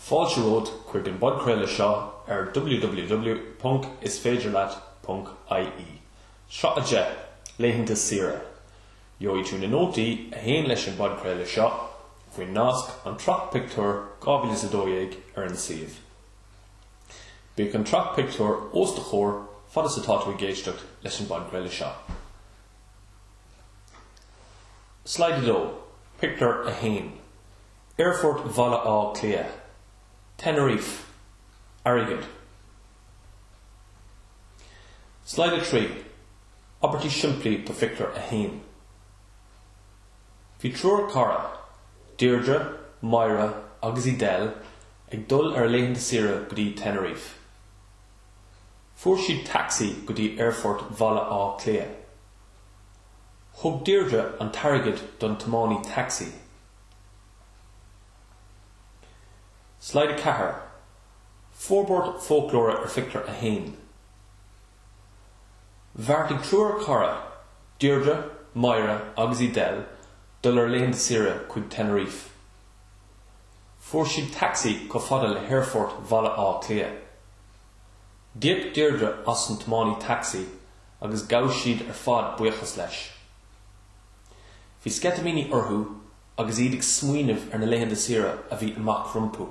Fáilte romhat chuig an bpodchraoladh seo ar www.isféidirleat.ie, sraith 10, Laethanta Saoire. Gheobhaidh tú na nótaí a théann leis an bpodchraoladh seo faoin nasc An tSraith Pictiúr 2012 ar an suíomh. Bíodh an tsraith pictiúr os do chomhair fad is atá tú ag éisteacht leis an bpodchraoladh seo. Slide 2, Pictiúr 1, Aerfort Bhaile Átha Cliath, Tenerife, airgead. Slide 3, Abairtí simplí do Phictiúr 1 Bhí triúr cara, Deirdre, Máire agus Edel, ag dul ar a laethanta saoire go dtí Tenerife. Fuair siad taxi go dtí aerfort Bhaile Átha Cliath. Thug Deirdre an t-airgead don tiománaí taxi. Slide 4, Forbairt Foclóra ar Phictiúr 1 Bheartaigh triúr cara, Deirdre, Máire agus Edel dul ar laethanta saoire chuig Tenerife. Fuair siad taxi chomh fada le haerfort Bhaile Átha Cliath. D'íoc Deirdre as an tiománaí taxi agus ghabh siad ar fad buíochas leis. Bhí sceitimíní orthu agus iad ag smaoineamh ar na laethanta saoire a bhí amach rompu.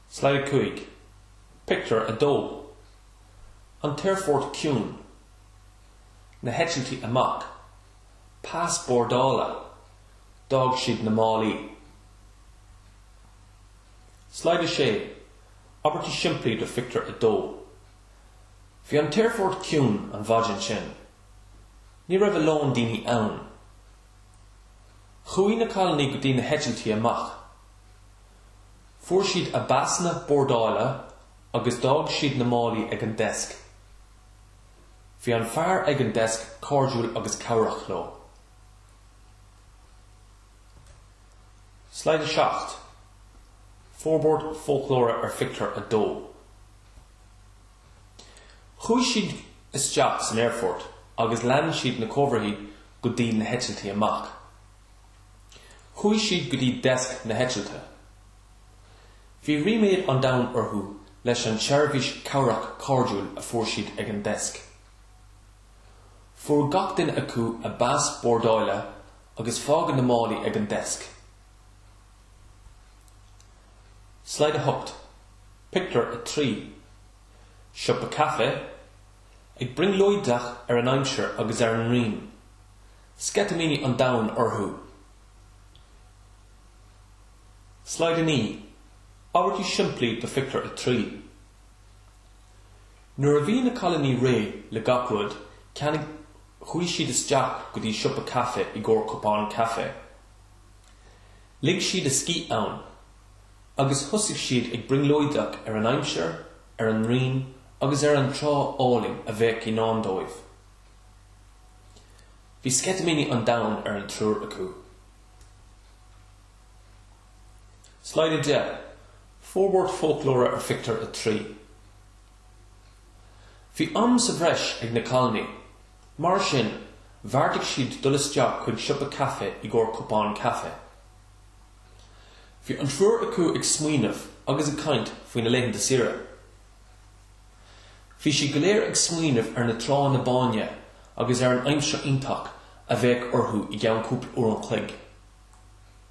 Slide 5, Pictiúr 2 An t-aerfort ciúin, na heitiltí amach, pas bordála, d'fhág siad na málaí. Slide 6, Abairtí simplí do Phictiúr 2 Bhí an t-aerfort ciúin an mhaidin sin. Ní raibh a lán daoine ann. Chuaigh na cailiní go dtí na heitiltí amach. Fuair siad a bpasanna bordála agus d'fhág siad na málaí ag an deisc. Bhí an fear ag an deisc cairdiúil agus cabhrach leo. Slide 7, Forbairt Foclóra ar Phictiúr 2 Chuaigh siad isteach san aerfort agus lean siad na comharthaí go dtí na heitiltí amach. Chuaigh siad go dtí deisc na heitilte. Bhí ríméad an domhain orthu leis an tseirbhís cabhrach cairdiúil a fuair siad ag an deisc. Fuair gach duine acu a bpas bordáile agus fágadh na málaí ag an deisc. Slide 8, Pictiúr 3 Siopa caife, ag brionglóideach ar an aimsir agus ar an ngrian, sceitimíní an domhain orthu. Slide 9, Abairtí simplí do Phictiúr 3. Nuair a bhí na cailíní réidh le gach rud, cheannaigh, chuaigh siad isteach go dtí siopa caife i gcomhair cupán caife. Lig siad a scíth ann agus thosaigh siad ag brionglóideach ar an aimsir, ar an ngrian agus ar an trá álainn a bheadh i ndán dóibh. Bhí sceitimíní an domhain ar an triúr acu. Slide 10, Forbairt Foclóra ar Phictiúr 3 Bhí am sa bhreis ag na cailíní. Mar sin, bheartaigh siad dul isteach chuig siopa caife i gcomhair cupán caife. Bhí an triúr acu ag smaoineamh agus ag caint faoi na laethanta saoire. Bhí siad go léir ag smaoineamh ar na tránna báine agus ar an aimsir iontach a bheadh orthu i gceann cúpla uair an chloig.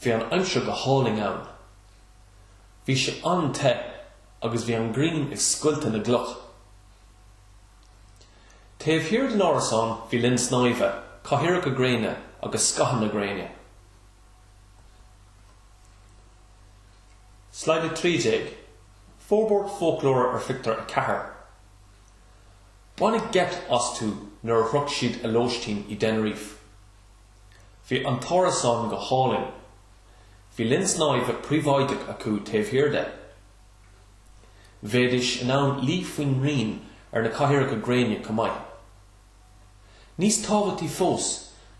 Bhí an aimsir go hálainn ann. Bhí sé an-te agus bhí an ghrian ag scoilteadh na gcloch. Taobh thiar den árasán bhí linn snáimhe, cathaoireacha gréine agus scáthanna gréine. Slide 13, Forbairt Foclóra ar Phictiúr 4 Baineadh geit astu nuair a shroich siad a lóistín i dTenerife. Bhí an t-árasán go hálainn. Bhí linn snáimhe príobháideach acu taobh thiar de. Bheidís in ann luí faoin ngrian ar na cathaoireacha gréine chomh maith. Níos tábhachtaí fós,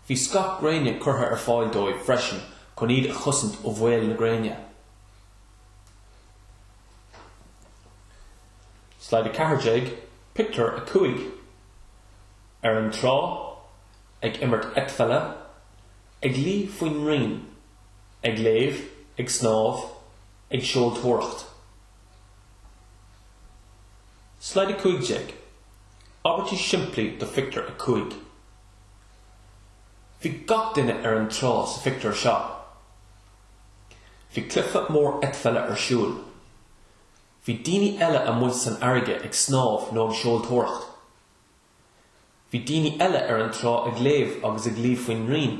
bhí scáth gréine curtha ar fáil dóibh freisin chun iad a chosaint ó bhaol na gréine. Slide 14, Pictiúr 5, Ar an trá, ag imirt eitpheile, ag luí faoin ngrian, ag léamh, ag snámh, ag seoltóireacht. Slide 15, Abairtí simplí do Phictiúr 5 Bhí gach duine ar an trá sa phictiúr seo. Bhí cluife mór eitpheile ar siúl. Bhí daoine eile amuigh san fharraige ag snámh nó ag seoltóireacht. Bhí daoine eile ar an trá ag léamh agus ag luí faoin ngrian.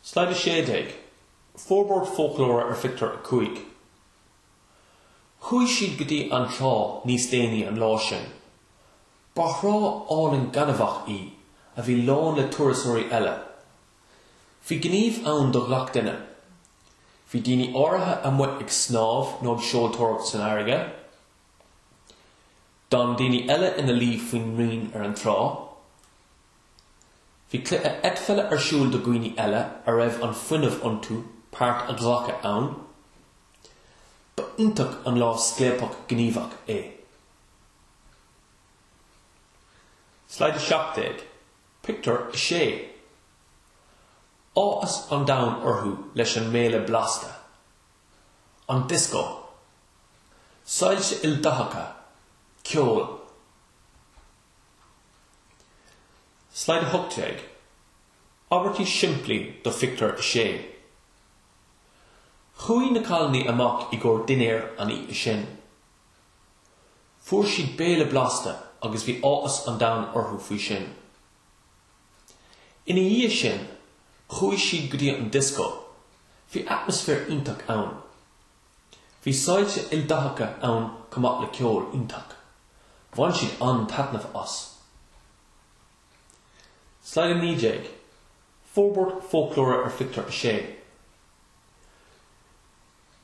Slide 16, Forbairt Foclóra ar Phictiúr 5 Chuaigh siad go dtí an trá níos déanaí an lá sin. Ba thrá álainn gainmheach í, a bhí lán le turasóirí eile, Bhí gníomh ann do ghach duine. Bhí daoine áirithe amuigh ag snámh nó ag seoltóireacht san fharraige, d'fhan daoine eile ina luí faoin ngrian ar an trá, bhí cluiche eitpheile ar siúl do dhaoine eile a raibh an fuinneamh iontu páirt a ghlacadh ann. Ba iontach an lá scléipeach gníomhach é. Slide 17. Pictiúr 6 Áthas an domhain orthu leis an mbéile blasta, an dioscó, soilse ildathacha, ceol. Slide 18, Abairtí simplí do Phictiúr 6 Chuaigh na cailíní amach i gcomhair dinnéir an oíche sin. Fuair siad béile blasta agus bhí áthas an domhain orthu faoi sin. Ina dhiaidh sin, chuaigh siad go dtí an dioscó. Bhí atmaisféar iontach ann. Bhí soilse ildathacha ann chomh maith le ceol iontach. Bhain siad an-taitneamh as. Slide 19, Forbairt foclóra ar Phictiúr 6.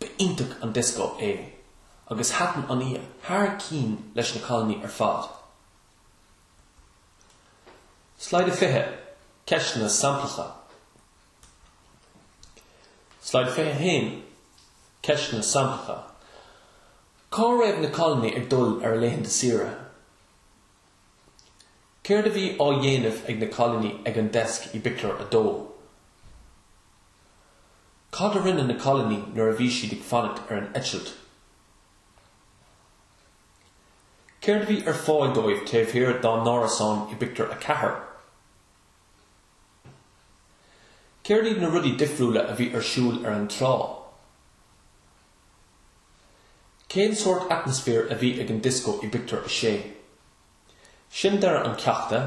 Ba iontach an dioscó é agus thaitin an oíche thar cinn leis na cailíní ar fad. Slide 20, Ceisteanna Samplacha Slide 21, Ceisteanna Samplacha Cá raibh na cailíní ag dul ar a laethanta saoire? Céard a bhí á dhéanamh ag na cailíní ag an deasc i bpictiúr a dó? Cad a rinne na cailíní nuair a bhí siad ag fanacht ar an eitilt? Céard a bhí ar fáil dóibh taobh thiar dá n-árasán i bpictiúr a ceathair? Céard iad na rudaí difriúla a bhí ar siúl ar an trá? Cén sórt atmaisféir a bhí ag an dioscó i bpictiúr a sé? Sin deireadh an cheachta,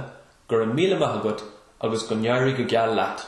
go raibh míle maith agat agus go n-éirí go geal leat!